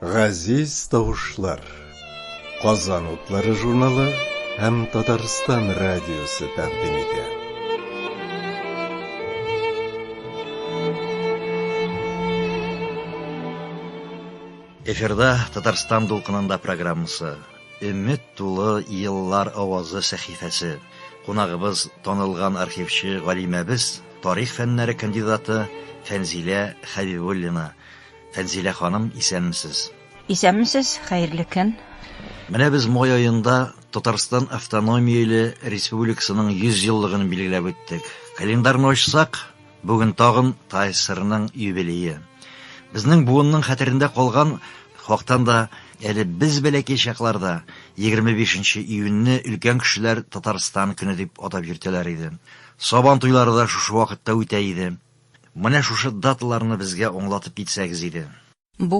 Газиз тавышлар. Казан утлары журналы һәм Татарстан радиосы тәкъдим итә. Эфирда Татарстан дулкынында программасы. Өмет тулы еллар авазы сәхифәсе. Кунагыбыз, танылган архивчы галимәбез, тарих фәннәре кандидаты Фәнзилә Хәбибуллина. Фәнзилә ханым, исәнмесез! Исәнмесез, хәерле көн! Менә без май аенда Татарстан автономияле республикасының 100 еллыгын билгеләп үттек. Календарьны ачсак, Бүген тагын ТАССРның юбилее. Безнең буынның хәтерендә калган хактан да әле без бәләкәй чакларда 25 нче июньне өлкән кешеләр Татарстан көне дип атап йөртәләр иде. Сабан туйлары да шушы вакытта үтә иде. Менә шушы даталарны безгә аңлатып китсәгез иде. Бу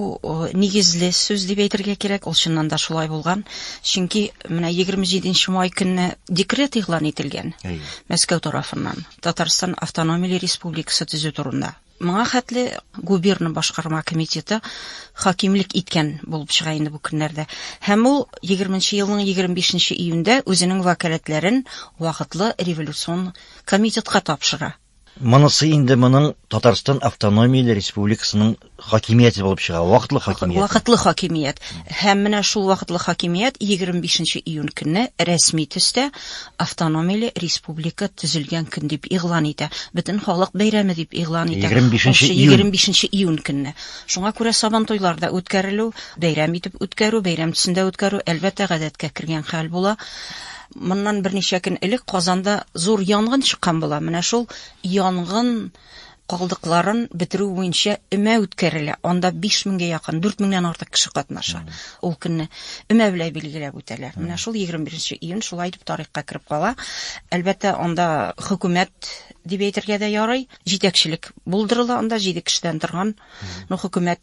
нигезле сүз дип әйтергә кирәк, ул чыннан да шулай булган. Чөнки менә 27 нче май көнне декрет игълан ителгән Мәскәү тарафыннан Татарстан автономияле республикасы төзү турында. Моңа хәтле губерна башкарма комитеты хакимлек иткән булып чыга инде бу көннәрдә. Һәм ул 20 нче елның 25 нче июньдә үзенең вәкаләтләрен вакытлы революцион комитетка тапшыра. Монысы инде моның Татарстан автономияле республикасының хакимияте булып чыга, вакытлы хакимият. Вакытлы хакимият. Һәм менә шул вакытлы хакимият 25 июнь көнне рәсми төстә автономияле республика төзелгән көн дип игълан итә. Бөтен халык бәйрәме дип игълан итә. 25 июнь. 25 июнь көнне. Шуңа күрә сабан туйлар да үткәрелү, бәйрәм итеп үткәрү, бәйрәм төсендә үткәрү әлбәттә гадәткә кергән хәл була. Моннан берничә көн элек Казанда зур янгын чыккан була. Менә шул янгын калдыкларын бетерү буенча өмә үткәрелә. Анда 5000 гә якын, 4000 нән артык кеше катнаша. Ул көнне өмә белән билгеләп үтәләр. Менә шул 21 нче июнь шулай дип тарихка кереп кала. Әлбәттә, анда хөкүмәт дип әйтергә дә ярый. Җитәкчелек булдырыла анда 7 кешедән торган. Ну, хөкүмәт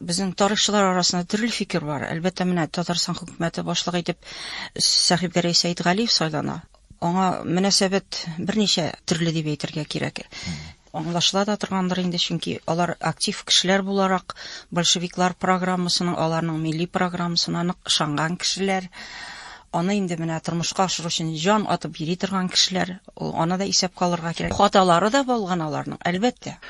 Безнең тарихчылар арасында төрле фикер бар. Әлбәттә, менә Татарстан хөкүмәте башлыгы итеп Сәхибгәрәй Сәйдгалиев сайлана. Аңа мөнәсәбәт берничә төрле дип әйтергә кирәк. Аңлашыла да торгандыр инде, чөнки алар актив кешеләр буларак большевиклар программасының, аларның милли программасына нык ышанган кешеләр. Аны инде менә тормышка ашыру өчен җан атып йөри торган кешеләр, ул аны да исәпкә алырга кирәк. Хаталары да булган аларның, әлбәттә.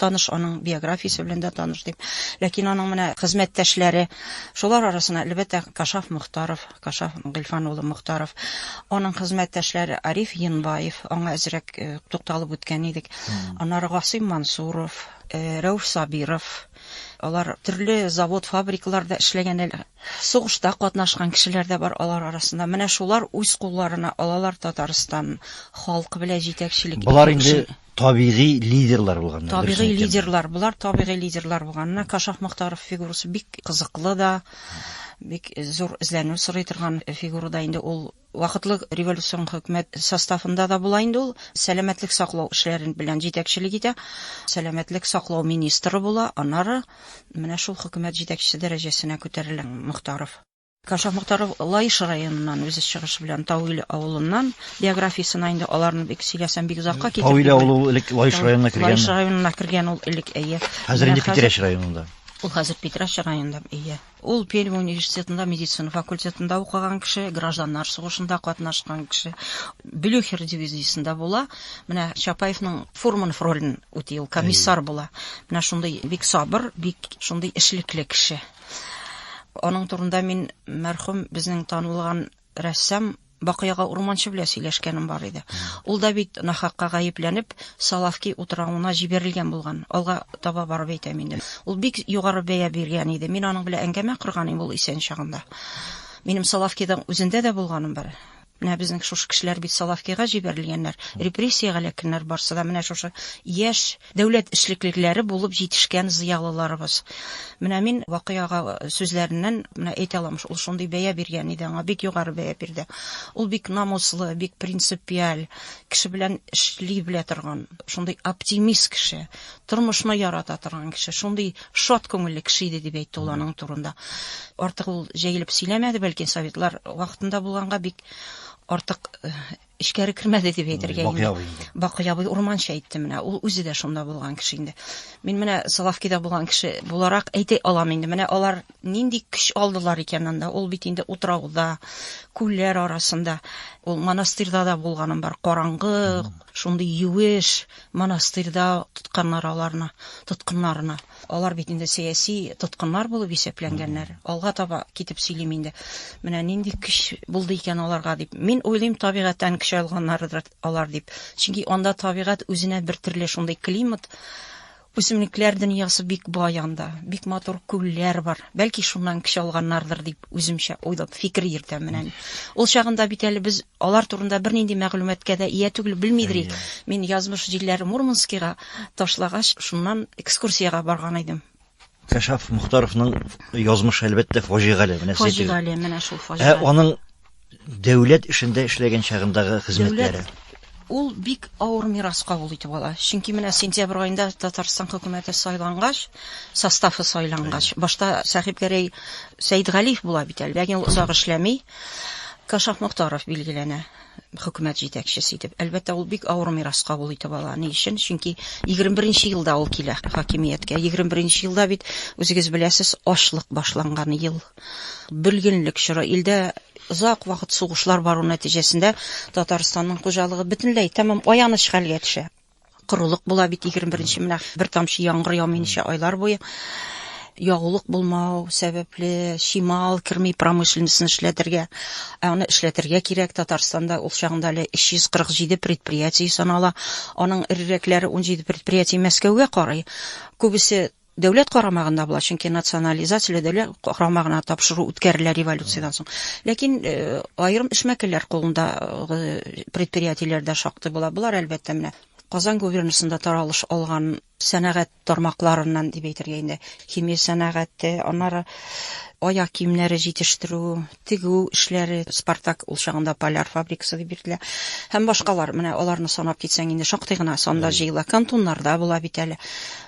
таныш, аның биографиясе белән дә таныш дип. Ләкин аның менә хезмәттәшләре, шулар арасына, әлбәттә, Кашаф Мохтаров, Кашаф Гыйлфан улы Мохтаров, аның хезмәттәшләре Ариф Енбаев, аңа әзрәк э, тукталып үткән идек. Аннары Гасыйм Мансуров, э, Рәүф Сабиров, алар төрле завод, фабрикаларда эшләгән әле. Сугышта катнашкан кешеләр дә бар алар арасында. Менә шулар үз кулларына алалар Татарстан халкы белән җитәкчелек. Болар инде табигый лидерлар булганнар. Табигый лидерлар, болар табигый лидерлар булганнар. Кашах Мохтаров фигурасы бик кызыклы да, бик зур эзләнү сорый торган фигура да инде ул вакытлы революцион хөкүмәт составында да була инде ул сәламәтлек саклау эшләрен белән җитәкчелек итә сәламәтлек саклау министры була аннары менә шул хөкүмәт җитәкчесе дәрәҗәсенә күтәрелә мохтаров Кашиф Мохтаров Лаеш районыннан, үзе чыгышы белән Тауил авылыннан. Биографиясенә инде аларны бик сөйләсәм, бик озакка китеп. Тауил авылы ул элек Лаеш районына кергән. Лаеш районына кергән ул элек, әйе. Хәзер инде Питрәч районында. Ул хәзер Питрәч районында, әйе. Ул Пермь университетында медицина факультетында укыган кеше, гражданнар сугышында катнашкан кеше. Блюхер дивизиясендә була. Менә Чапаевның Фурманов ролен үти, ул комиссар була. Менә шундый бик сабыр, бик шундый эшлекле кеше. Аның турында мин мәрхүм безнең танылган рәссам Бакыяга Урманчы белән сөйләшкәнем бар иде. Ул да бит нахакка гаепләнеп, Салавки утравына җибәрелгән булган. Алга таба барып әйтәм инде. Ул бик югары бәя биргән иде. Мин аның белән әңгәмә корган идем ул исән чагында. Минем Салавкида үзендә дә булганым бар. Менә безнең шушы кешеләр бит Салавкига җибәрелгәннәр, репрессиягә эләккәннәр, барсы да менә шушы яшь дәүләт эшлеклеләре булып җитешкән зыялыларыбыз. Менә мин Вакый ага сүзләреннән менә әйтә алам, ул шундый бәя биргән иде аңа, бик югары бәя бирде. Ул бик намуслы, бик принципиаль, кеше белән эшли белә торган, шундый оптимист кеше, тормышны ярата торган кеше, шундый Шат күңелле кеше иде дип әйтте ул аның турында. Артык ул җәелеп сөйләмәде, бәлки советлар вакытында булганга бик артык э, эчкәре кермәде дип әйтергә инде. Бакый абый урманча әйтте менә. Ул үзе дә шунда булган кеше инде. Мин менә Салавкида булган кеше буларак әйтә алам инде. Менә алар нинди көч алдылар икән анда. Ул бит инде утрауда, күлләр арасында. Ул монастырьда да булганым бар. Караңгы, шундый юеш, Монастырьда тотканнар аларны, тоткыннарны. Алар бит инде сәяси тоткыннар булып исәпләнгәннәр. Алга таба китеп сөйлим инде. Менә нинди көч булды икән аларга дип. Мин уйлыйм, табигатьтән көч алганнардыр алар дип. Чөнки анда табигать үзенә бер төрле шундый климат, үсемлекләр дөньясы бик бай анда. Бик матур күлләр бар. Бәлки шуннан көч алганнардыр дип үземчә уйлап фикер йөртәм менә. Ул чагында бит әле без Алар турында бернинди мәгълүматкә дә ия түгел, белмидер идек. Мин язмыш җилләре Мурманскига ташлагач, шуннан экскурсиягә барган идем. Кәшаф Мухтаровның язмышы әлбәттә фаҗигале. Менә фаҗигале, менә шул фаҗигале. Ә аның дәүләт эшендә эшләгән чагындагы хезмәтләре. Ул бик авыр мирас кабул итеп ала. Чөнки менә сентябрь аенда Татарстан хөкүмәте сайлангач, составы сайлангач, башта Сәхибгәрәй Сәйдгалиев була бит әле, ләкин ул озак эшләми. Кашаф Мохтаров билгеләнә хөкүмәт җитәкчесе итеп. Әлбәттә, ул бик авыр мирас кабул итеп ала. Ни өчен? Чөнки 21 нче елда ул килә хакимияткә. 21 нче елда бит, үзегез беләсез, ачлык башланган ел. Бөлгенлек чоры. Илдә озак вакыт сугышлар бару нәтиҗәсендә Татарстанның хуҗалыгы бөтенләй, тәмам аяныч хәлгә төшә. Корылык була бит 21-нче менә бер тамчы яңгыр яумый ничә айлар буе. Ягулык булмау сәбәпле чимал керми промышленностьны эшләтергә. Ә аны эшләтергә кирәк. Татарстанда ул чагында әле 347 предприятие санала. Аның эрерәкләре 17 предприятие Мәскәүгә карый. Күбесе Дәүләт карамагында була, чөнки национализацияле дәүләт карамагына тапшыру үткәрелә революциядән соң. Ләкин э, аерым эшмәкәрләр кулындагы э, предприятиеләр дә шактый була. Болар әлбәттә менә Казан губернасында таралыш алган сәнәгать тармакларыннан дип әйтергә инде. Химия сәнәгате, аннары аяк киемнәре җитештерү, тегү эшләре, Спартак, ул чагында Поляр фабрикасы дип йөртелә, һәм башкалар, менә аларны санап китсәң инде шактый гына санда җыела, кантоннарда була бит әле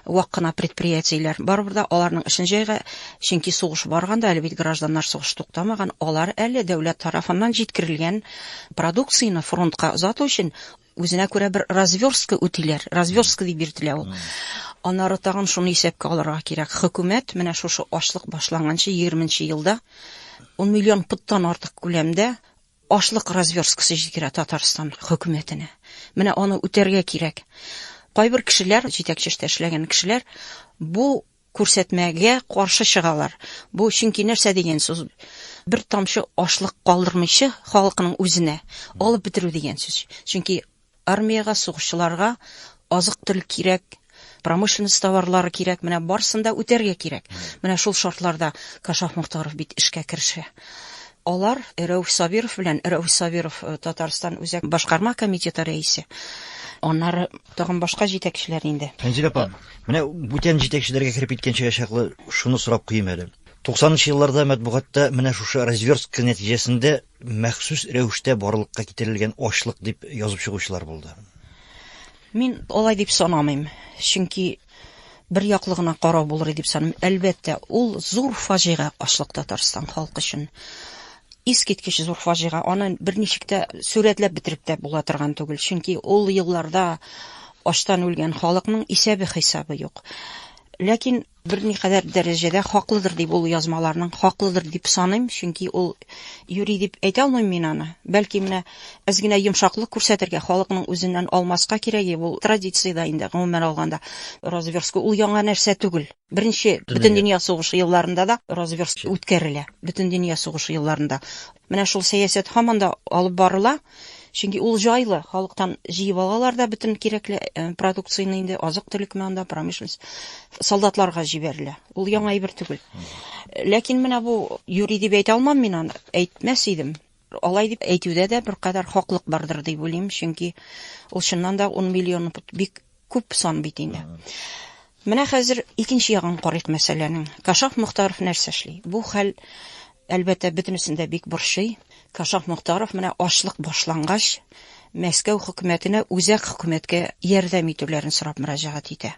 вак кына предприятиеләр, барыбер да аларның эшен җәйга, чөнки сугыш бар ганда, әле бит гражданнар сугышы туктамаган, алар әле дәүләт тарафыннан җиткерелгән продукцияне фронтка озату өчен Үзенә күрә бер развёрстка үтиләр, развёрстка дип йөртелә ул. Аннары тагын шуны исәпкә алырга кирәк. Хөкүмәт менә шушы ачлык башланганчы 20 нче елда 10 миллион пудтан артык күләмдә ашлык развёрсткасы җиткерә Татарстан хөкүмәтенә. Менә аны үтәргә кирәк. Кайбер кешеләр, җитәкче эштә эшләгән кешеләр бу күрсәтмәгә каршы чыгалар. Бу чөнки нәрсә дигән сүз? Бер тамчы ашлык калдырмыйчы халыкның үзенә алып бетерү дигән сүз. Чөнки армиягә, сугышчыларга азык төл кирәк, промышленность товарлары кирәк, менә барсын да үтәргә кирәк. Менә шул шартларда Кашаф Мохтаров бит эшкә керешә. Алар Рәүф Сабиров белән, Рәүф Сабиров э, Татарстан үзәк башкарма комитеты рәисе, аннары Тагын башка җитәкчеләр инде. Фәнзилә апа, менә бүтән җитәкчеләргә кереп киткәнчегә чаклы шуны сорап куйыйм әле. Туксанынчы елларда мәтбугатта менә шушы развертка нәтиҗәсендә махсус рәвештә барлыкка китерелгән ачлык дип язып чыгучылар булды. Мин алай дип санамыйм. Чөнки бер яклы гына карау булыр дип саныйм. Әлбәттә, ул зур фаҗига ачлык Татарстан халкы өчен. Искиткеч зур фаҗига. Аны берничек тә сурәтләп бетереп тә була торган түгел. Чөнки ул елларда ачтан үлгән халыкның исәбе-хисабы юк. Ләкин берникадәр дәрәҗәдә хаклыдыр дип ул язмаларның хаклыдыр дип саныйм, чөнки ул юри дип әйтә алмыйм мин аны. Бәлки менә Әз генә йомшаклык күрсәтергә, халыкның үзеннән алмаска кирәге, ул традиция дә инде, гомумән алганда. Разверстка ул яңа нәрсә түгел. Беренче Бөтендөнья сугышы елларында да разверстка үткәрелә. Бөтендөнья сугышы елларында. Менә шул сәясәт һаман да алып барыла. Чөнки ул җайлы, халыктан җыеп алалар да бөтен кирәкле продукцияне инде, азык-төлекме анда, промышленность, солдатларга җибәрелә. Ул яңа әйбер түгел. Ләкин менә бу юри дип әйтә алмам мин аны, әйтмәс идем. Алай дип әйтүдә дә беркадәр хаклык бардыр дип уйлыйм, чөнки ул чыннан да ун миллион бик күп сан бит инде. Менә хәзер икенче ягын карыйк мәсьәләнең. Кашаф Мохтаров нәрсә эшли? Бу хәл, әлбәттә, бөтенесен дә бик борчый. Кашаф Мохтаров менә ачлык башлангач, Мәскәү хөкүмәтенә үзәк хөкүмәткә ярдәм итүләрен сорап мөрәҗәгать итә.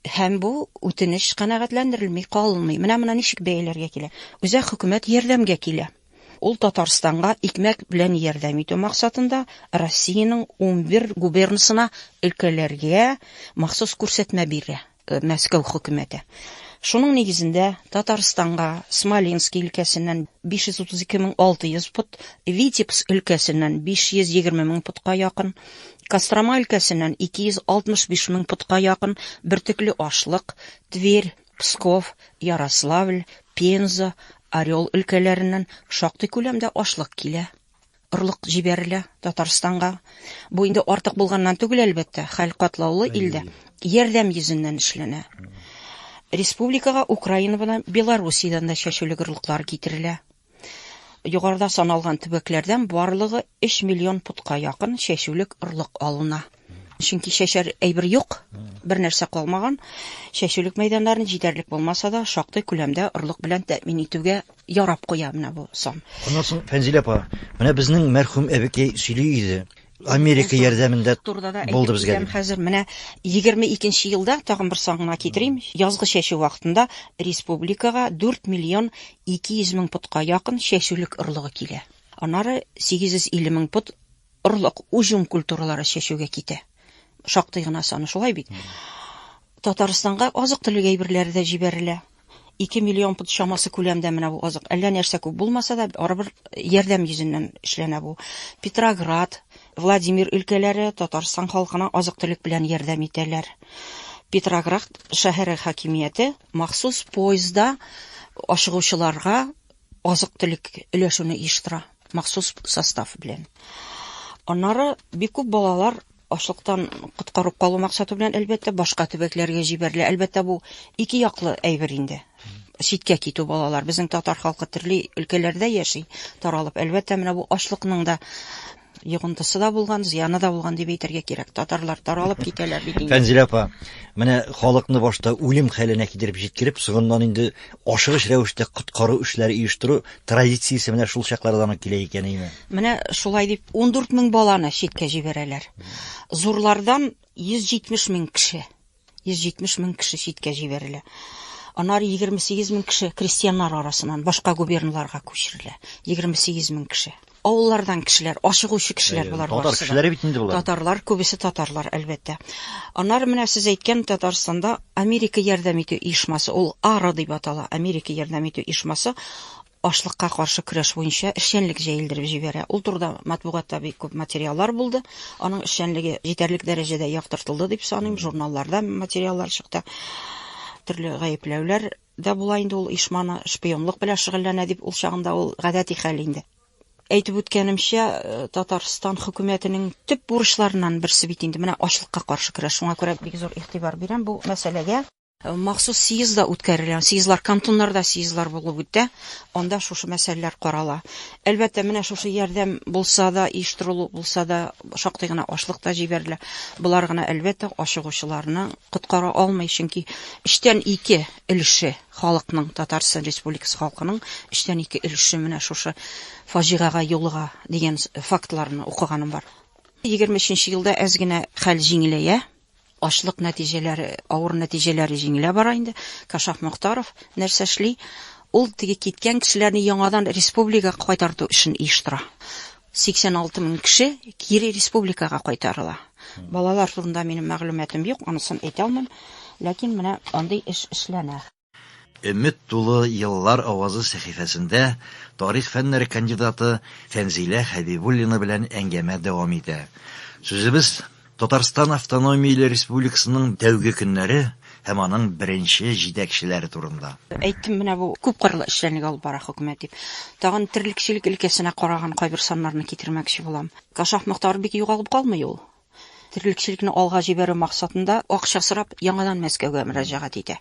Һәм бу үтенеч канәгатьләндерелми калмый. Менә моны ничек бәяләргә килә? Үзәк хөкүмәт ярдәмгә килә. Ул Татарстанга икмәк белән ярдәм итү максатында Россиянең унбер губернасына өлкәләргә махсус күрсәтмә бирә Мәскәү хөкүмәте. Шуның нигезендә Татарстанга Смоленски өлкәсеннән 532600 пот, Витебск өлкәсеннән 520 мең потка якын, Кострома өлкәсеннән 265 мең потка якын бөртекле ашлык, Тверь, Псков, Ярославль, Пенза, Орел өлкәләреннән шактый күләмдә ашлык килә. Орлык җибәрелә Татарстанга. Бу инде артык булганнан түгел, әлбәттә, хәл катлаулы илдә. Ярдәм йөзеннән эшләнә. Республикага Украинадан, Белоруссиядән дә чәчүлек орлыклар китерелә. Югарыда саналган төбәкләрдән барлыгы 3 миллион путка якын чәчүлек орлык алына. Чөнки чәчәр әйбер юк, бер нәрсә калмаган. Чәчүлек мәйданнарын җитәрлек булмаса да, шактый күләмдә орлык белән тәэмин итүгә ярап куя менә бу сан. Аннан соң, Фәнзилә апа, менә безнең мәрхүм әбекәй сөйли иде, Америка ярдәмендә булды безгә. Хәзер менә 22 елда тагын бер сан гына китерим. Язгы чәчү вакытында республикага 4 миллион 200 мең путка якын чәчүлек орлыгы килә. Аннары 850 мең пут орлык уҗым культуралары чәчүгә китә. Шактый гына саны шулай бит. Татарстанга азык-төлек әйберләре дә җибәрелә. Ике миллион пд чамасы күләмдә менә бу азык. Әллә нәрсә күп булмаса да, барыбер ярдәм йөзеннән эшләнә бу. Петроград, Владимир өлкәләре Татарстан халкына азык-төлек белән ярдәм итәләр. Петроград шәһәре хакимияте махсус поездда ашыгучыларга азык-төлек өләшүне оештыра махсус состав белән. Аннары бик күп балалар ашлыктан коткарып калу максаты белән әлбәттә башка төбәкләргә җибәрелә. Әлбәттә бу ике яклы әйбер инде. Читкә китү балалар. Безнең татар халкы төрле өлкәләрдә яши, таралып. Әлбәттә менә бу ашлыкның да Йогынтысы да булган, зыяны да булган дип әйтергә кирәк. Татарлар таралып китәләр бит инде. Фәнзилә апа, менә халыкны башта үлем хәленә китереп җиткереп, соңыннан инде ашыгыч рәвештә коткару эшләре оештыру традициясе менә шул чаклардан ук килә икән име? Менә шулай дип 14 мең баланы читкә җибәрәләр. Зурлардан 170 мең кеше. 170 мең кеше читкә җибәрелә. Аннары 28 мең кеше крестьяннар арасыннан башка губерналарга күчерелә. 28 мең кеше. Авыллардан кешеләр, ашыгучы кешеләр болар Татар барысы да. кешеләре бит инде болар. Татарлар, күбесе татарлар, әлбәттә. Аннары менә сез әйткән Татарстанда Америка ярдәм итү оешмасы, ул АРА дип атала, Америка ярдәм итү оешмасы ачлыкка каршы көрәш буенча эшчәнлек җәелдереп җибәрә. Ул турыда матбугатта бик күп материаллар булды. Аның эшчәнлеге җитәрлек дәрәҗәдә яктыртылды дип саныйм. Журналларда материаллар чыкты. Төрле гаепләүләр дә була инде ул оешманы шпионлык белән шөгыльләнә дип, ул чагында ул гадәти хәл инде. Әйтеп үткәнемчә, Татарстан хөкүмәтенең төп бурычларыннан берсе бит инде менә ачлыкка каршы көрәш. Шуңа күрә бик зур игътибар бирәм бу мәсьәләгә. Махсус съезд да үткәрелә. Съездлар кантоннарда съездлар булып үтә. Анда шушы мәсьәләләр карала. Әлбәттә, менә шушы ярдәм булса да, оештырылу булса да, шактый гына ашлык та җибәрелә. Болар гына, әлбәттә, ашыгучыларны коткара алмый, чөнки өчтән ике өлеше халыкның, Татарстан Республикасы халкының өчтән ике өлеше менә шушы фаҗигага юлыга дигән фактларны укыганым бар. Егерме өченче елда әз генә хәл җиңеләя. Ачлык нәтиҗәләре, авыр нәтиҗәләре җиңелә бара инде. Кашаф Мохтаров нәрсә эшли? Ул теге киткән кешеләрне яңадан республикага кайтарту эшен оештыра. 86 мең кеше кире республикага кайтарыла. Балалар турында минем мәгълүматым юк, анысын әйтә алмыйм. Ләкин менә андый эш эшләнә. Өмет тулы еллар авазы сәхифәсендә тарих фәннәре кандидаты Фәнзилә Хәбибуллина белән әңгәмә дәвам итә. Сүзебез Татарстан автономияле республикасының тәүге көннәре һәм аның беренче җитәкчеләре турында. Әйттем, менә бу күпкырлы эшчәнлек алып бара хөкүмәт дип. Тагын терлекчелек өлкәсенә караган кайбер саннарны китермәкче булам. Кашап Мохтар бик югалып калмый ул. Терлекчелекне алга җибәрү максатында акча сорап, яңадан Мәскәүгә мөрәҗәгать итә.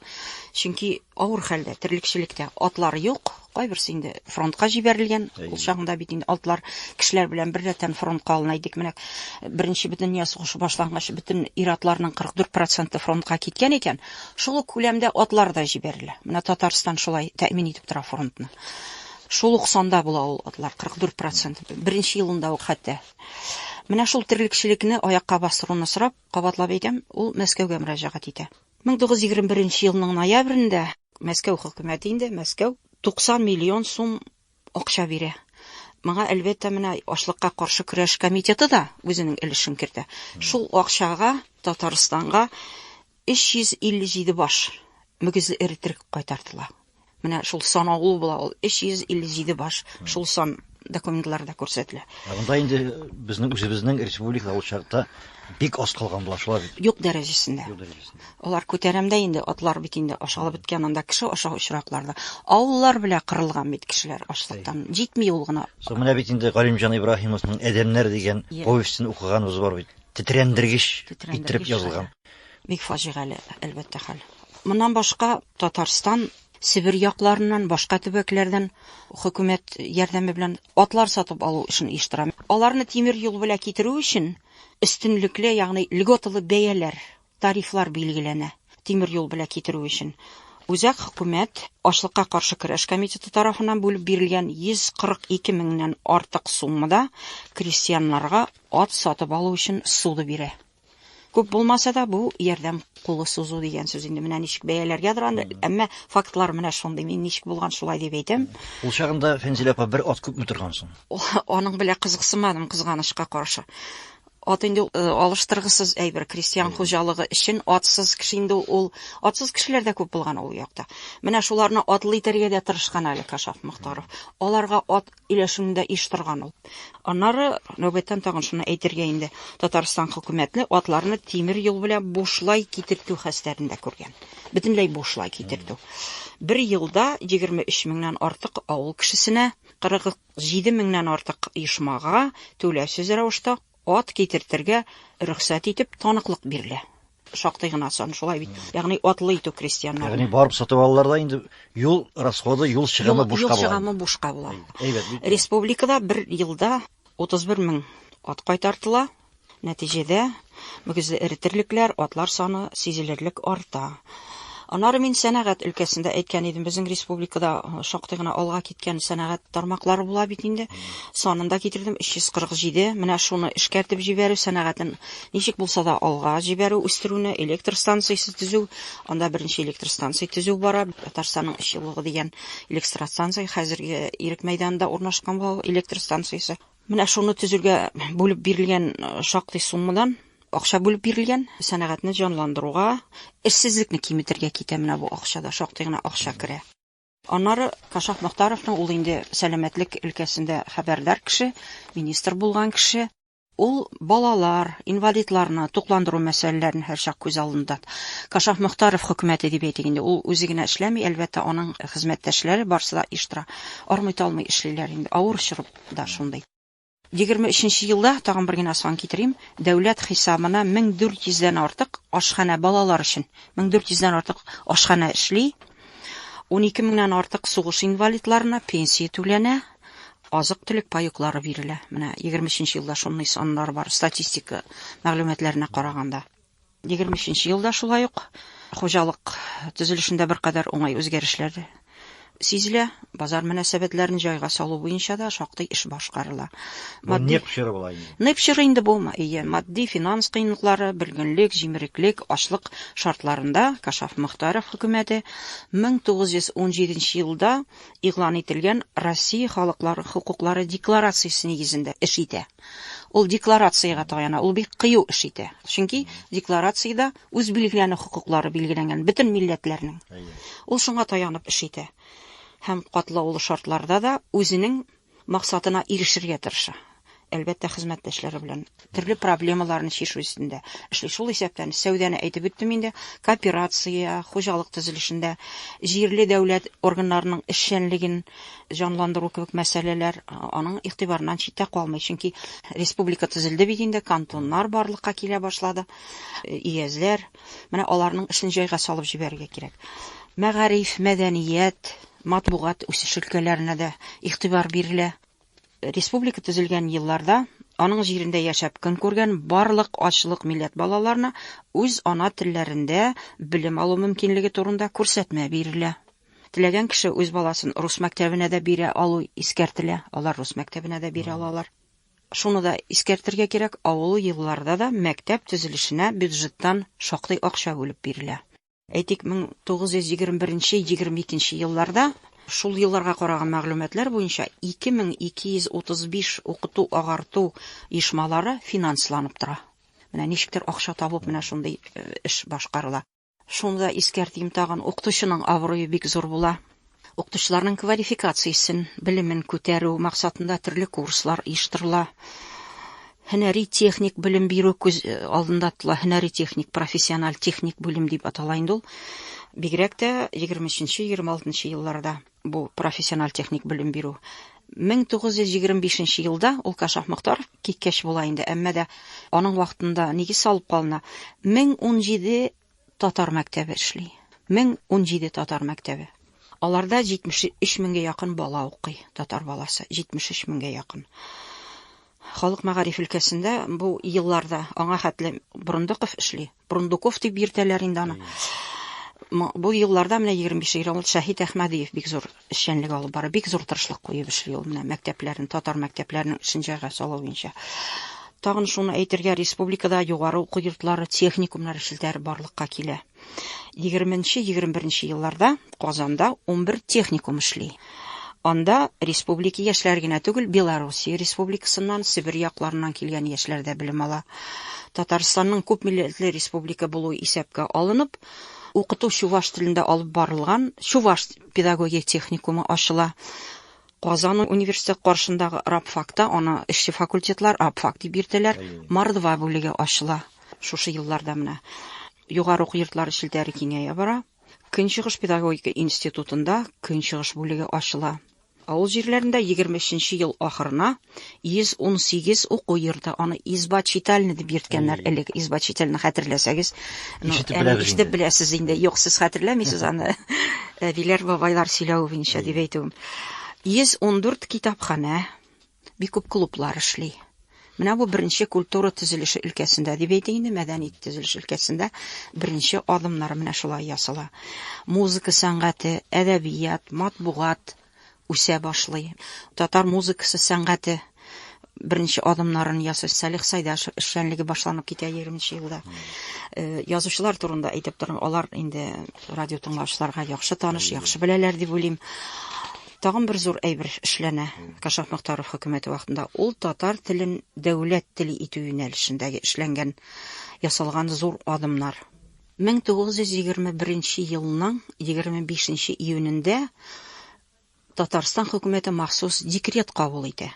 Чөнки авыр хәлдә, терлекчелектә атлар юк, кайберсе инде фронтка җибәрелгән. Ул чагында бит инде атлар кешеләр белән беррәттән фронтка алына идек. Менә Беренче бөтендөнья сугышы башлангач, бөтен ир-атларның 44 проценты фронтка киткән икән. Шул ук күләмдә атлар да җибәрелә. Менә Татарстан шулай тәэмин итеп тора фронтны. Шул ук санда була ул атлар, 44 процент. Беренче елында ук хәтта Менә шул терлекчелекне аякка бастыруны сорап, кабатлап әйтәм, ул Мәскәүгә мөрәҗәгать итә. 1921 елның ноябрендә Мәскәү хөкүмәте инде, Мәскәү 90 миллион сум акча бирә. Моңа, әлбәттә, менә ачлыкка каршы көрәш комитеты да үзенең өлешен кертә. Шул акчага Татарстанга 357 баш мөгезле эре терек кайтартыла. Менә шул сан агылу була ул 357 баш шул сан документларда күрсәтелә. Ә монда инде безнең үзебезнең республика ул чакта бик аз калган була шулай бит. Юк дәрәҗәсендә. Юк дәрәҗәсендә. Алар күтәрәмдә инде атлар бит инде ашалып беткән анда кеше аша очракларда. Авыллар белә кырылган бит кешеләр ашлыктан. Җитми ул гына. Соң менә бит инде Галимҗан Ибраһимовның Әдәмнәр дигән повестен укыганыбыз бар бит. Тетрәндергеч иттереп язылган. Бик фаҗигале, әлбәттә, хәл. Моннан башка Татарстан Себер якларыннан, башка төбәкләрдән хөкүмәт ярдәме белән атлар сатып алу эшен оештыра. Аларны тимер юл белән китерү өчен өстенлекле, ягъни льготалы бәяләр, тарифлар билгеләнә. Тимер юл белән китерү өчен Үзәк хөкүмәт ашлыкка каршы көрәш комитеты тарафыннан бүлеп бирелгән 142 меңнән артык суммада крестьяннарга ат сатып алу өчен суды бирә. Күп булмаса да, бу ярдәм кулы сузу дигән сүз инде менә ничек бәяләргә доран, әмма фактлар менә шундый. Мин ничек булган шулай дип әйтәм. Ул чагында Фәнзилә апа бер ат күпме торган соң? Аның белә кызыксынмадым кызганычка каршы. Ат инде э, алыштыргысыз әйбер, крестьян хуҗалыгы өчен атсыз кеше инде ул, атсыз кешеләр дә күп булган ул якта. Менә шуларны атлы итәргә дә тырышкан әле Кашаф Мохтаров. Аларга ат Өйләшүендә еш торган ул. Аннары, нәүбәттән тагын шуны әйтергә инде, Татарстан хөкүмәтне атларны тимер юл белән бушлай китертү хәстәрендә күргән. Бөтенләй бушлай китертү. Бер елда 23 меңнән артык авыл кешесенә, 47 меңнән артык оешмага түләүсез рәвештә Ат китертергә рөхсәт итеп таныклык бирелә. Шактый гына сан шулай бит. Ягъни атлы итү крестьяннар. Ягъни барып сатып алалар да инде юл расходы, юл чыгымы бушка була. Юл чыгымы бушка була. Әйбәт бит. Республикада бер елда 31 мең ат кайтартыла. Нәтиҗәдә мөгезле эретерлекләр, атлар саны сизелерлек арта. Аннары мин сәнәгать өлкәсендә әйткән идем, безнең республикада шактый гына алга киткән сәнәгать тармаклары була бит инде. Санын да китердем, 347. Менә шуны эшкәртеп җибәрү сәнәгатен ничек булса да алга җибәрү, үстерүне, электр станциясе төзү, анда беренче электр станция төзү бара. Татарстанның эшчелыгы дигән электр станция хәзерге Ирек мәйданында урнашкан бу электр станциясе. Менә шуны төзергә бүлеп бирелгән шактый суммадан акча бүлеп бирелгән. Сәнәгатьне җанландыруга, эшсезлекне киметергә китә менә бу акча да, шактый гына акча керә. Аннары Кашаф Мохтаровның ул инде сәламәтлек өлкәсендә хәбәрдар кеше, министр булган кеше. Ул балалар, инвалидларны тукландыру мәсьәләләрен һәрчак күз алдында. Кашаф Мохтаров хөкүмәте дип әйтик инде, ул үзе генә эшләми, әлбәттә, аның хезмәттәшләре барсы да еш тора. Армый-талмый эшлиләр инде, авыр чорып. да шундый. Егерме өченче елда, тагын бер генә сан китерим, дәүләт хисабына 1400 дән артык ашханә, балалар өчен 1400 дән артык ашханә эшли, унике меңнән артык сугыш инвалидларына пенсия түләнә, азык-төлек паеклары бирелә. Менә егерме өченче елда шундый саннар бар, статистика мәгълүматларына караганда. Егерме өченче елда шулай ук хуҗалык төзелешендә беркадәр уңай үзгәрешләр сизелә. Базар мөнәсәбәтләрен җайга салу буенча да шактый эш башкарыла. Матди неп чоры була инде. Неп чоры инде бу, ие, матди финанс кыенлыклары, бөлгенлек, җимереклек, ачлык шартларында Кашаф Мөхтаров хөкүмәте 1917 елда игълан ителгән Россия халыклары хокуклары декларациясе нигезендә эш итә. Ул декларациягә таяна, ул бик кыю эш итә. Чөнки декларациядә үз билгеләнү хокуклары билгеләнгән бөтен милләтләрнең. Ул шуңа таянып эш итә. Һәм катлаулы шартларда да үзенең максатына ирешергә тырыша. Әлбәттә, хезмәттәшләре белән төрле проблемаларны чишү өстендә эшли. Шул исәптән сәүдәне әйтеп үттем инде, кооперация, хуҗалык төзелешендә җирле дәүләт органнарының эшчәнлеген җанландыру кебек мәсьәләләр аның игътибарыннан читтә калмый. Чөнки республика төзелде бит инде, кантоннар барлыкка килә башлады, өязләр. Менә аларның эшен җайга салып җибәрергә кирәк. Мәгариф, мәдәният, матбугат үсеш өлкәләренә дә игътибар бирелә. Республика төзелгән елларда аның җирендә яшәп көн күргән барлык ачлык милләт балаларына үз ана телләрендә белем алу мөмкинлеге турында күрсәтмә бирелә. Теләгән кеше үз баласын рус мәктәбенә дә бирә алу искәртелә. Алар рус мәктәбенә дә бирә алалар. Шуны да искәртергә кирәк, авылы елларда да мәктәп төзелешенә бюджеттан шактый акча бүлеп бирелә. Әйтик, 1921-22 елларда шул елларга караган мәгълүматлар буенча 2235 укыту-агарту оешмалары финансланып тора. Менә ничектер акча табып, менә шундый э, эш башкарыла. Шуны да искәртим тагын, укытучының абруе бик зур була. Укытучыларның квалификациясен, белемен күтәрү максатында төрле курслар оештырыла. Һөнәри техник белем бирү күз э, алдында тотыла. Һөнәри техник, профессиональ техник бүлем дип атала инде ул. Бигрәк тә 23-26 елларда. Бу профессиональ техник белем бирү. 1925 нче елда ул Кашаф Мохтаров киткәч була инде, әмма дә аның вакытында нигез салып калына. 1017 татар мәктәбе эшли. 1017 татар мәктәбе. Аларда 73 меңгә якын бала укый, татар баласы, 73 меңгә якын. Халык мәгариф өлкәсендә бу елларда аңа хәтле Борындыков эшли. Прундуков дип йөртәләр инде аны. Бу елларда менә 25 ел ул Шәһид Әхмәдиев бик зур эшчәнлек алып бара, бик зур тырышлык куеп эшли ул менә мәктәпләрен, татар мәктәпләрен өчен җайга салу буенча. Тагын шуны әйтергә, республикада югары уку йортлары, техникумнар челтәр барлыкка килә. 20-21 елларда Казанда 11 техникум эшли. Анда республики яшьләре генә түгел, Белоруссия республикасыннан, Себер якларыннан килгән яшьләр дә белем ала. Татарстанның күп милләтле республика булуы исәпкә алынып, укыту чуваш телендә алып барылган Чуваш педагогия техникумы ачыла. Казан университеты каршындагы рабфакта аны эшче факультетлар рабфак дип йөртәләр, Мордва бүлеге ачыла шушы елларда менә. Югары уку йортлары челтәре киңәя бара. Көнчыгыш педагогика институтында көнчыгыш бүлеге ачыла. Авыл җирләрендә 23 нче ел ахырына 118 уку йорты, аны изба читальны дип йөрткәннәр элек. Изба читальны хәтерләсәгез, ну, ишетеп беләсез инде. Юк, сез хәтерләмисез аны. Әбиләр, бабайлар сөйләве буенча дип әйтүем. 114 китапханә, Бик күп клублар эшли. Менә бу беренче культура төзелеше өлкәсендә дип әйтик инде, мәдәни төзелеш өлкәсендә беренче адымнар менә шулай ясала. Музыка сәнгате, әдәбият, матбугат үсә башлый. Татар музыкасы сәнгате беренче адымнарын ясый Салих Сайдашев эшчәнлеге башланып китә 20 елда. Э, язучылар турында әйтеп торам, алар инде радио тыңлаучыларга яхшы таныш, яхшы беләләр дип уйлыйм. Тагын бер зур әйбер эшләнә Кашаф Мөхтаров хөкүмәте вакытында. Ул татар телен дәүләт теле итү юнәлешендәге эшләнгән, ясалган зур адымнар. 1921 елның 25 июнендә Татарстан хөкүмәте махсус декрет кабул итә.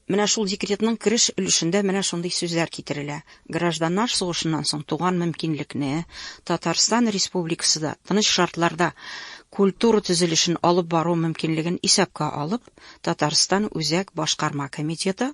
Менә шул декретның кереш өлешендә менә шундый сүзләр китерелә, Гражданнар сугышыннан соң туган мөмкинлекне, Татарстан Республикасыда тыныч шартларда культура төзелешен алып бару мөмкинлеген исәпкә алып, Татарстан Үзәк Башкарма комитеты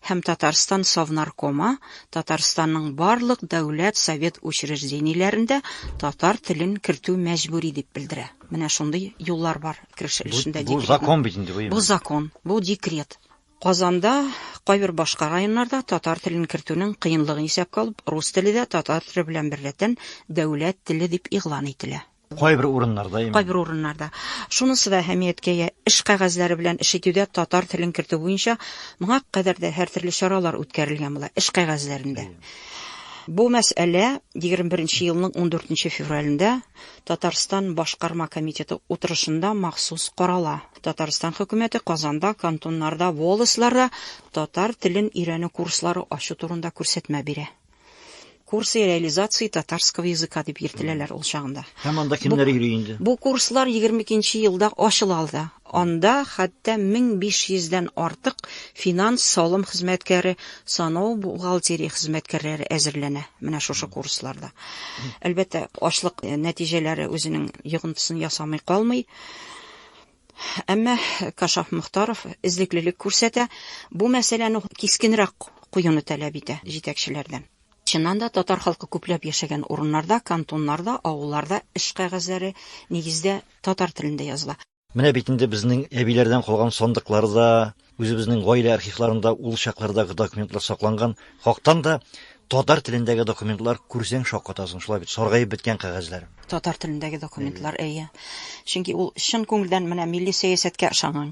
һәм Татарстан Совнаркомы Татарстанның барлык дәүләт совет учреждениеләрендә татар телен кертү мәҗбүри дип белдерә. Менә шундый юллар бар. кереш өлешендә декрет. Бу закон бит инде бу. Бу закон, бу декрет. Казанда, кайбер башка районнарда татар телен кертүнең кыенлыгын исәпкә алып, рус теле дә татар теле белән берләтен дәүләт теле дип игълан ителә. Кайбер урыннарда именно. Кайбер урыннарда. Шунысы да әһәмияткә ия, эш кәгазьләре белән эш итүдә татар телен кертү буенча моңа кадәр дә һәртөрле чаралар үткәрелгән була, эш кәгазьләрендә. Бу мәсьәлә 21 нче елның 14 нче февралендә Татарстан Башкарма комитеты утырышында махсус карала. Татарстан хөкүмәте Казанда, кантоннарда, волостьларда татар телен өйрәнү курслары ачу турында күрсәтмә бирә. Курсы реализации татарского языка дип йөртеләләр ул чагында. Һәм анда кемнәр йөри инде? Бу курслар 22 нче елда ачыла алда. Анда хәтта 1500 дән артык финанс, салым хезмәткәре, санау, бухгалтерия хезмәткәрләре әзерләнә менә шушы курсларда. Әлбәттә, ачлык нәтиҗәләре үзенең йогынтысын ясамый калмый. Әмма Кашаф Мөхтаров эзлеклелек күрсәтә, бу мәсьәләне кискенрәк куюны таләп итә җитәкчеләрдән. Чыннан да, татар халкы күпләп яшәгән урыннарда, кантоннарда, авылларда эш кәгазьләре, нигездә, татар телендә языла. Менә бит инде безнең әбиләрдән калган сандыкларда, үзебезнең гаилә архивларында ул чаклардагы документлар сакланган. Хактан да, татар телендәге документлар, күрсәң, шаккатасың, шулай бит, саргаеп беткән кәгазьләр. Татар телендәге документлар, әйе. Чөнки ул чын күңелдән менә милли сәясәткә ышанган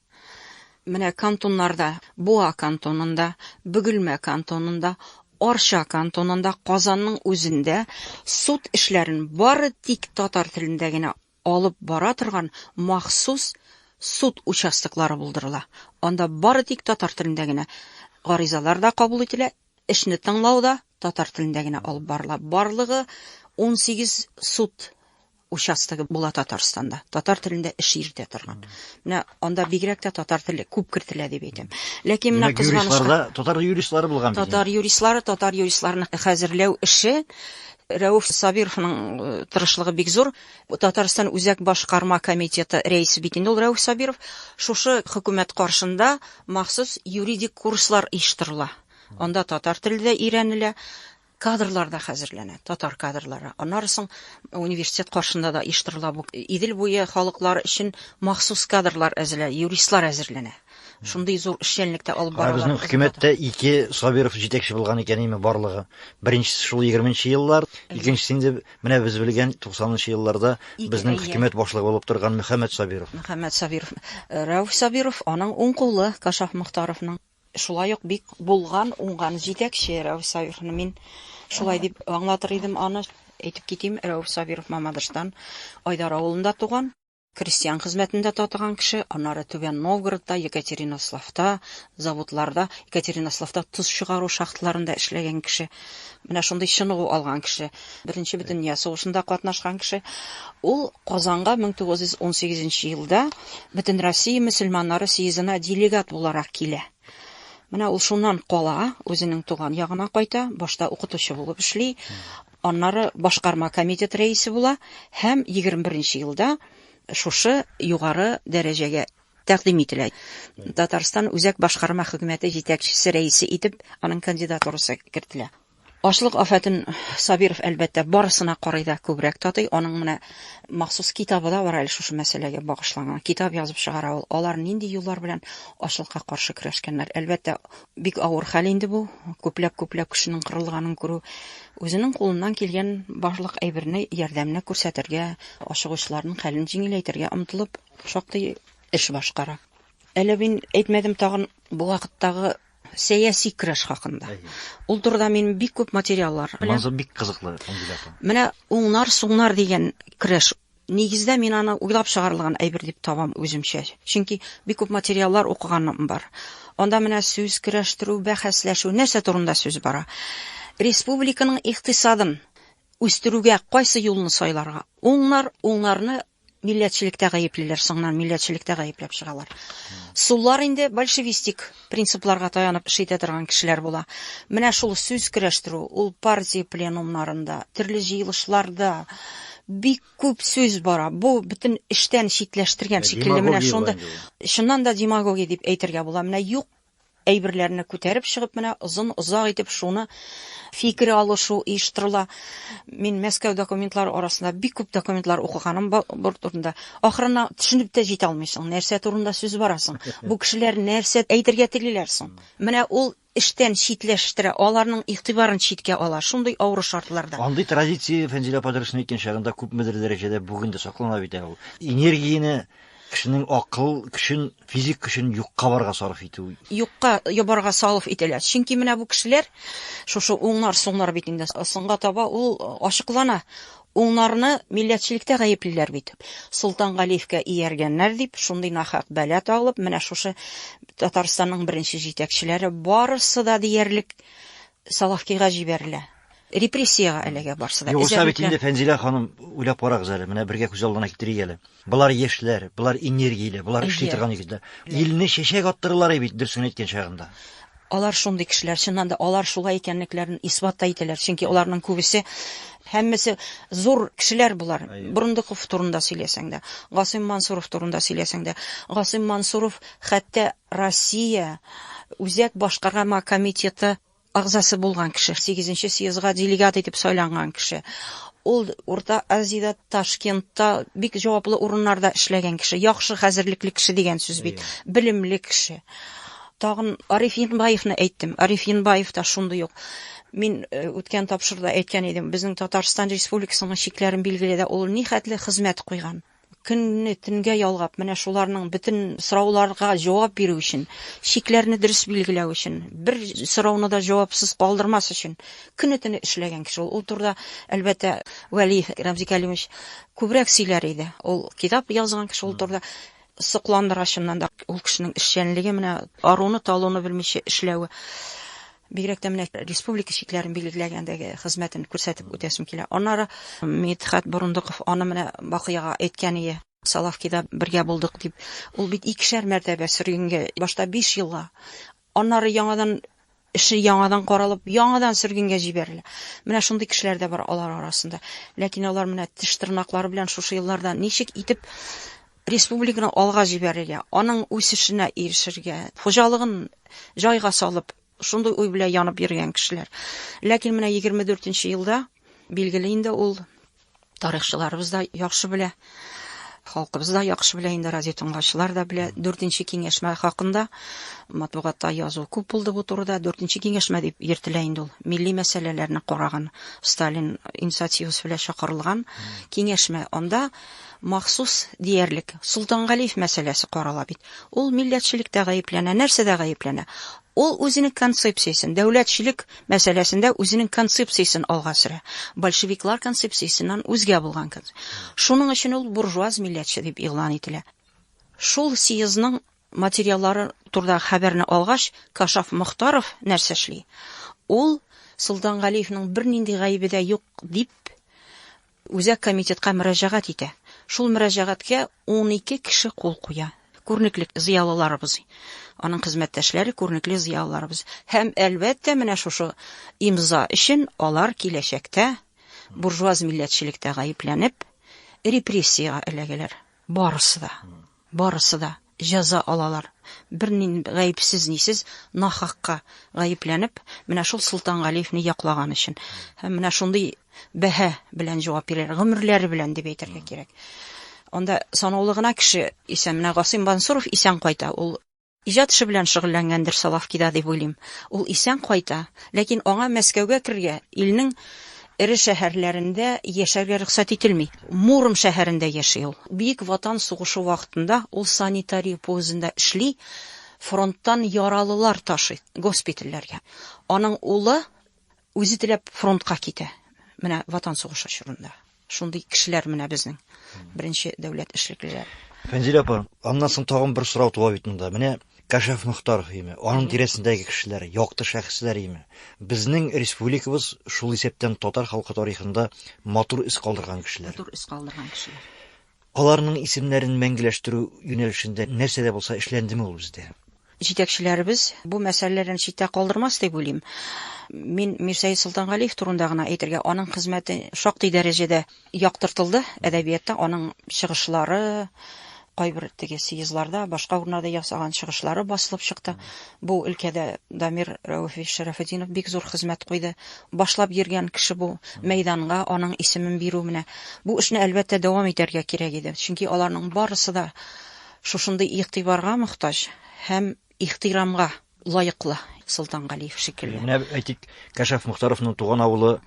Менә кантоннарда, Буа кантонында, Бөгелмә кантонында, Арча кантонында, Казанның үзендә суд эшләрен бары тик татар телендә генә алып бара торган махсус суд участоклары булдырыла. Анда бары тик татар телендә генә гаризалар да кабул ителә, эшне тыңлау да татар телендә генә алып барыла. Барлыгы унсигез суд участогы була Татарстанда, татар телендә эш йөртә торган. Менә анда бигрәк тә татар теле күп кертелә дип әйтәм. Ләкин менә кызганычка... татар юристлары булган бит. Татар юристлары, татар юристларны хәзерләү эше Рәүф Сабировның э, тырышлыгы бик зур. Татарстан үзәк башкарма комитеты рәисе бит инде ул Рәүф Сабиров. Шушы хөкүмәт каршында махсус юридик курслар оештырыла. Анда татар теле дә өйрәнелә. Кадрлар да хәзерләнә, татар кадрлары. Аннары соң университет каршында да оештырыла бу. Идел буе халыклары өчен махсус кадрлар әзерләнә, юристлар әзерләнә. Шундый зур эшчәнлек тә алып баралар. Безнең хөкүмәттә ике Сабиров җитәкче булган икән име барлыгы. Беренчесе шул егерменче еллар, икенчесе инде менә без белгән туксанынчы елларда безнең хөкүмәт башлыгы булып торган Мөхәммәт Сабиров. Мөхәммәт Сабиров, Рәүф Сабиров, аның уң кулы Кашаф Мохтаровның. Шулай ук бик булган, уңган җитәкче Рәүф Сабировны мин шулай дип аңлатыр идем аны. Әйтеп китим, Рәүф Сабиров Мамадыштан, Айдар авылында туган. Крестьян хезмәтендә татыган кеше, аннары Түбән Новгородта, Екатеринославта, заводларда, Екатеринославта тоз чыгару шахталарында эшләгән кеше. Менә шундый чыныгу алган кеше. Беренче бөтендөнья сугышында катнашкан кеше. Ул Казанга 1918 елда Бөтенроссия мөселманнары съездына делегат буларак килә. Менә ул шуннан кала, үзенең туган ягына кайта, башта укытучы булып эшли, аннары башкарма комитет рәисе була һәм 21 елда шушы югары дәрәҗәгә тәкъдим ителә. Татарстан үзәк башкарма хөкүмәте җитәкчесе рәисе итеп аның кандидатурасы кертелә. Ачлык афәтен Сабиров, әлбәттә, барысына карый да күбрәк татый. Аның менә махсус китабы да бар әле шушы мәсьәләгә багышланган. Китап язып чыгара ул. Алар нинди юллар белән ачлыкка каршы көрәшкәннәр. Әлбәттә, бик авыр хәл инде бу, күпләп-күпләп кешенең кырылганын күрү. Үзенең кулыннан килгән барлык әйберне, ярдәмне күрсәтергә, ашыгучыларның хәлен җиңеләйтергә омтылып, шактый эш башкара. Әле мин әйтмәдем, тагын бу вакыттагы Сәяси көрәш хакында. Ул турыда мин бик күп материаллар. Манзу бик кызыклы кандидатым. Менә уңнар, суңнар дигән көрәш Нигездә мин аны уйлап чыгарылган әйбер дип табам үземчә. Чөнки бик күп материаллар укыганым бар. Анда менә сүз көрәштерү, бәхәсләшү, нәрсә турында сүз бара? Республиканың икътисадын үстерүгә кайсы юлны сайларга? Уңнар, уңнарны Милләтчелектә гаеплиләр, соңыннан милләтчелектә гаепләп чыгалар. Суллар инде большевистик принципларга таянып эш итә торган кешеләр була. Менә шул сүз көрәштерү, ул партия пленумнарында, төрле җыелышларда бик күп сүз бара. Бу бөтен эштән читләштергән шикелле менә шунда. Чыннан да демагогия дип әйтергә була. Менә юк Әйберләрне күтәреп чыгып менә озын озак итеп шуны фикер алышу оештырыла. Мин Мәскәү документлары арасында бик күп документлар укыганым бар турында. Ахырына төшенеп тә җитә алмыйсың, нәрсә турында сүз барасың. Бу кешеләр нәрсә әйтергә телиләр соң? Менә ул эштән читләштерә, аларның игътибарын читкә ала, шундый авыру шартларда. Андый традиция, Фәнзилә апа дөресен әйткән чагында күпмедер дәрәҗәдә бүген дә саклана бит әле ул. Энергияне Кешенең акыл көчен, физик көчен юкка барга сарыф итү. Юкка ябарга салыф итәләр. Чөнки менә бу кешеләр шушы уңнар, соңнар бит инде. Соңга таба ул ачыклана. Уңнарны милләтчелектә гаеплиләр бит. Солтан Галиевкә ияргәннәр дип, шундый нахак бәла тагылып, менә шушы Татарстанның беренче җитәкчеләре барысы да диярлек Салавкига җибәрелә. Репрессиягә эләгә барсы да. Югыйсә бит инде, Фәнзилә ханым, уйлап карагыз әле, менә бергә күз алдына китерик әле. Болар яшьләр, болар энергияле, болар эшли торган егетләр. Илне чәчәк аттыралар ай бит, дөресен әйткән чагында. Алар шундый кешеләр, чыннан да, алар шулай икәнлекләрен исбат та итәләр, чөнки аларның күбесе, һәммәсе зур кешеләр болар. Борындыков турында сөйләсәң дә, Гасыйм Мансуров турында сөйләсәң дә. Гасыйм Мансуров хәтта Россия Үзәк башкарама комитеты әгъзасы булган кеше, сигезенче съездга делегат итеп сайланган кеше. Ул Урта Азиядә, Ташкентта бик җаваплы урыннарда эшләгән кеше, яхшы хәзерлекле кеше дигән сүз бит, белемле кеше. Тагын Ариф Енбаевны әйттем. Ариф Енбаев та шундый ук. Мин үткән тапшыруда әйткән идем, безнең Татарстан Республикасының чикләрен билгеләдә ул нихәтле хезмәт куйган. көнне төнгә ялгап, менә шуларның бөтен сорауларга җавап бирү өчен, чикләрне дөрес билгеләү өчен, бер сорауны да җавапсыз калдырмас өчен көне төне эшләгән кеше ул. Ул турыда, әлбәттә, Вәли Рәмзи Кәлимович күбрәк сөйләр иде. Ул китап язган кеше ул турыда. Сокландыра, чыннан да, ул кешенең эшчәнлеге, менә аруны-талуны белмичә эшләве. Бигрәк тә менә республика чикләрен билгеләгәндәге хезмәтен күрсәтеп үтәсем килә. Аннары Мидхәт Борындыков аны менә Бакыяга әйткәние, Салавкида бергә булдык дип. Ул бит икешәр мәртәбә сөргенгә, башта биш елга, аннары яңадан эше яңадан каралып, яңадан сөргенгә җибәрелә. Менә шундый кешеләр дә бар алар арасында. Ләкин алар менә теш-тырнаклары белән шушы елларда ничек итеп Республиканы алга җибәрергә, аның үсешенә ирешергә, хуҗалыгын җайга салып, шундый уй белән янып йөргән кешеләр. Ләкин менә 24 нче елда, билгеле инде ул, тарихчыларыбыз да яхшы белә, халкыбыз да яхшы белә инде, радиотыңлаучылар да белә. 4 нче киңәшмә хакында матбугатта язу күп булды бу турыда. 4 нче киңәшмә дип йөртелә инде ул. Милли мәсьәләләрне караган Сталин инициативасы белән чакырылган киңәшмә. Анда Махсус, диярлек, Солтангалиев мәсьәләсе карала бит. Ул милләтчелектә гаепләнә, нәрсәдә гаепләнә? Ул үзенең концепциясен, дәүләтчелек мәсьәләсендә үзенең концепциясен алга сөрә. Большевиклар концепциясеннән үзгә булган конц. Шуның өчен ул буржуаз милләтче дип игълан ителә. Шул съездның материаллары турдагы хәбәрне алгач, Кашаф Мохтаров нәрсә эшли? Ул Солтангалиевның бернинди гаебе дә юк дип, Үзәк комитетка мөрәҗәгать итә. Шул мөрәҗәгатькә унике кеше кул куя. Күренекле зыялыларыбыз, аның хезмәттәшләре, күренекле зыялыларыбыз. Һәм, әлбәттә, менә шушы имза өчен алар киләчәктә буржуаз милләтчелектә гаепләнеп, репрессиягә эләгәләр. Барысы да. Барысы да җәза алалар. Бер нинд гаепсез-нисез, нахакка гаепләнеп, менә шул Солтангалиевне яклаган өчен. Һәм менә шундый бәһа белән җавап бирәләр, гомерләре белән дип әйтергә кирәк. Анда санаулы гына кеше исән, менә Гасыйм Бансуров исән кайта, ул. Иҗат эше белән шөгыльләнгәндер Соловкида дип уйлыйм. Ул исән кайта, ләкин аңа Мәскәүгә керергә, илнең эре шәһәрләрендә яшәргә рөхсәт ителми. Муром шәһәрендә яши ул. Бөек Ватан сугышы вакытында ул санитария поездында эшли, фронттан яралылар ташый госпитальләргә. Аның улы Үзе теләп фронтка китә. Менә Ватан сугышы чорында. Шундый кешеләр менә безнең беренче дәүләт эшлеклеләр. Фәнзилә апа, аннан соң тагын бер сорау туа бит монда. Менә Кәшәф Мөхтаров име, аның тирәсендәге кешеләр, якты шәхесләр име? Безнең республикабыз шул исәптән татар халкы тарихында матур эз калдырган кешеләр. Матур эз калдырган кешеләр. Аларның исемнәрен мәңгеләштерү юнәлешендә нәрсә дә булса эшләндеме ул бездә? Җитәкчеләребез бу мәсьәләләрен читтә калдырмас дип уйлыйм. Мин Мирсәет Солтангалиев турында гына әйтергә, аның хезмәте шактый дәрәҗәдә яктыртылды әдәбиятта, аның чыгышлары, кайбер теге съездларда, башка урыннарда ясаган чыгышлары басылып чыкты. Бу өлкәдә Дамир Рәүфи Шәрәфетдинов бик зур хезмәт куйды. Башлап йөргән кеше бу мәйданга аның исемен бирү менә. Бу эшне, әлбәттә, дәвам итәргә кирәк иде. Чөнки аларның барысы да шушындый игътибарга мохтаҗ һәм ихтирамга лаеклы, Солтан Галиев шикелле. Менә әйтик, Кәшәф Мохтаровның туган авылы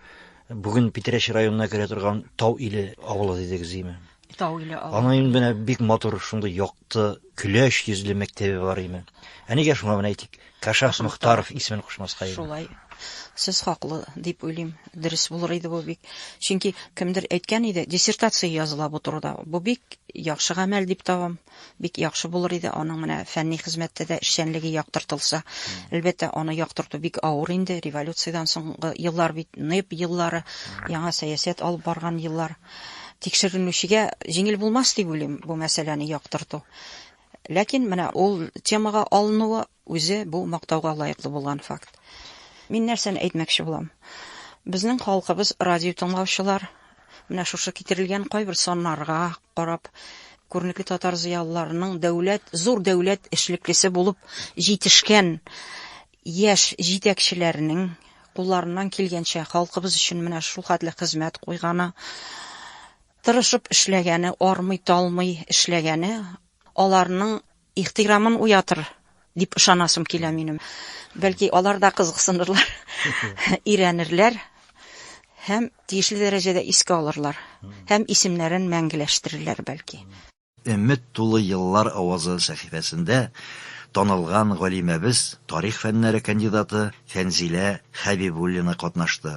бүген Питрәч районына керә торган Тау иле авылы дидегез, име? Тау иле авылы. Аны инде бик матур, шундый як Т, Көләч йөзле мәктәбе бар име? Ә нигә шуңа менә әйтик, Кашас Мохтаров исемен кушмаска иде? Шулай. Сез хаклы дип уйлыйм. Дөрес булыр иде бу бик. Чөнки кемдер әйткән иде, диссертация языла бу турыда. Бу бик яхшы гамәл дип табам. Бик яхшы булыр иде аның менә фәнни хезмәттә дә эшчәнлеге яктыртылса. Әлбәттә, аны яктырту бик авыр инде. Революциядән соңгы еллар бит, НЭП еллары, яңа сәясәт алып барган еллар. Тикшеренүчегә җиңел булмас дип уйлыйм бу мәсьәләне яктырту. Ләкин менә ул темага алынуы үзе бу мактауга лаеклы булган факт. Мин нәрсәне әйтмәкче булам? Безнең халкыбыз радио тыңлаучылар менә шушы китерелгән кайбер саннарга карап күренекле татар зыялыларының дәүләт, зур дәүләт эшлеклесе булып җитешкән яшь җитәкчеләрнең кулларыннан килгәнчә халкыбыз өчен менә шулхәтле хезмәт куйганы, тырышып эшләгәне, армый-талмый эшләгәне аларның ихтирамын уятыр дип ышанасым килә минем. Бәлки алар да кызыксынырлар, өйрәнерләр һәм тиешле дәрәҗәдә искә алырлар һәм исемнәрен мәңгеләштерерләр, бәлки. Өмет тулы еллар авазы сәхифәсендә танылган галимәбез, тарих фәннәре кандидаты Фәнзилә Хәбибуллина катнашты.